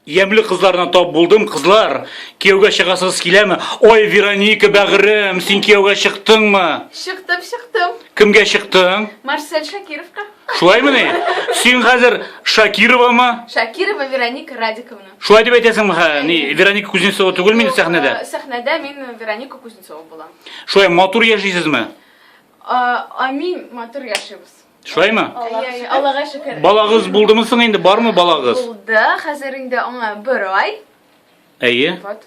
Ямле кызларына тап булдым, кызлар. Кияүгә чыгасыз киләме? Ой, Вероника, бәгырем, син кияүгә чыктыңмы? Чыктым, чыктым. Кемгә чыктың? Марсель Шакировка. Шулаймы ни? Син хәзер Шакировамы? Шакирова Вероника Радиковна. Шулай дип әйтәсеңме? Ха, ни, Вероника Кузнецова түгел мин сәхнәдә. Э, Сәхнәдә мин Вероника Кузнецова булам. Шулай матур яшисезме? А, Амин, матур яшибез. Шулаймы? Әйе, Аллага шөкер. Балагыз булдымы соң инде, бармы балагыз? Булды, хәзер инде аңа бер ай. Әйе. Вот.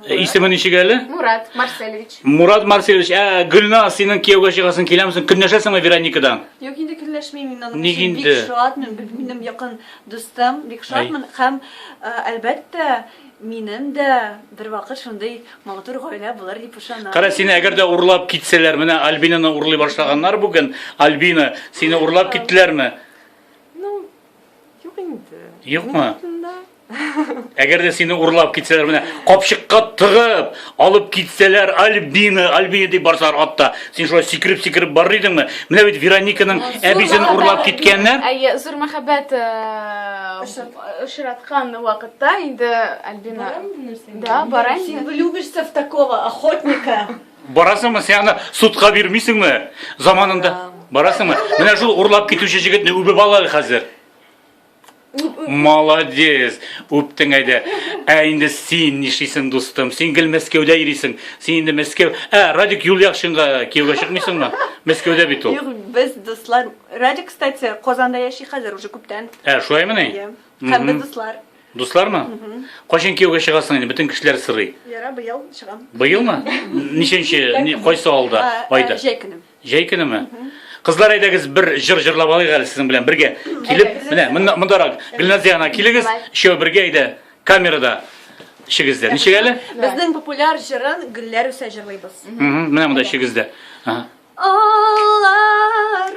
Э, исеме ничек әле? Мурат Марселевич. Мурат Марселевич, ә Гөлна, синең кияүгә чыгасың киләмсең? Көнләшәсеңме Вероникадан? Юк, инде көнләшмим мин аның. Ник инде? Бик шатмын, минем якын дустым, бик шатмын һәм э, әлбәттә, Минем дә бервакыт шундый матур гаилә булыр дип ышанам. Кара, сине әгәр дә урлап китсәләр, менә Альбинаны урлый башлаганнар бүген. Альбина, сине урлап киттеләрме? Ну, юк инде. Юкмы? Әгәр дә сине урлап китсәләр, менә капчыкка тыгып, алып китсәләр, Альбина, Альбина дип барсалар атта. Син шулай сикереп-сикереп барыр идеңме? Менә бит Верониканың әбисен урлап киткәннәр. Әйе, зур мәхәббәт. Э, очраткан вакытта инде Альбина Да, барам. Син влюбишься в такого охотника. Барасыңмы? Син аны судка бирмисеңме? Заманында барасыңмы? Менә шул урлап китүче җегетне үбеп ал әле хәзер. Молодец, үптең әйдә. Ә инде син нишлисең, дустым? Син гел Мәскәүдә йөрисең. Син инде Мәскәү. Ә, Радик Юльяхшинга кияүгә чыкмыйсыңмы? Мәскәүдә бит ул. Юк, без дуслар Радик, кстати, Казанда яши хәзер уже күптән. Ә, шулаймыни? Иә. Һәм без дуслар. Дуслармы? Кайчан кияүгә чыгасың инде? Бөтен кешеләр сырый. Яра, быел чыгам. Быелмы? Ничәнче, ни- кайсы алда, А, а, айда? Җәй көне. Җәй көнеме? Кызлар, әйдәгез бер җыр җырлап алыйк әле сезнең белән бергә. Килеп, менә монда- мондарак. Гөлназия ана, килегез, өчәү бергә әйдә. Камерада ишегездә. Ничек әле? Безнең популяр җырын Гөлләр үсә җырлыйбыз. Мгм, Менә монда ишегездә. Ага. Алар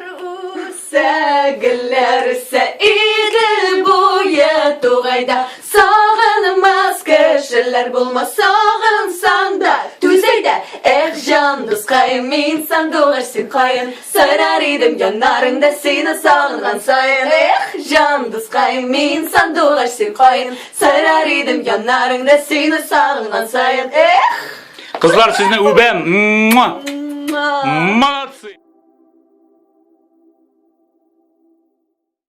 үсә, гөлләр үсә, Идел буе тугайда. Сагынмас кешеләр булмас, сагынсаң да, түзәйдә. Эх, җан дускаем, мин сандугач син каен, сайрар идем яннарыңда сине сагынган саен. Эх, җан дускаем, мин сандугач син каен, сайрар идем яннарыңда сине сагынган саен. Эх! Кызлар сезне үбәм. Молодцы.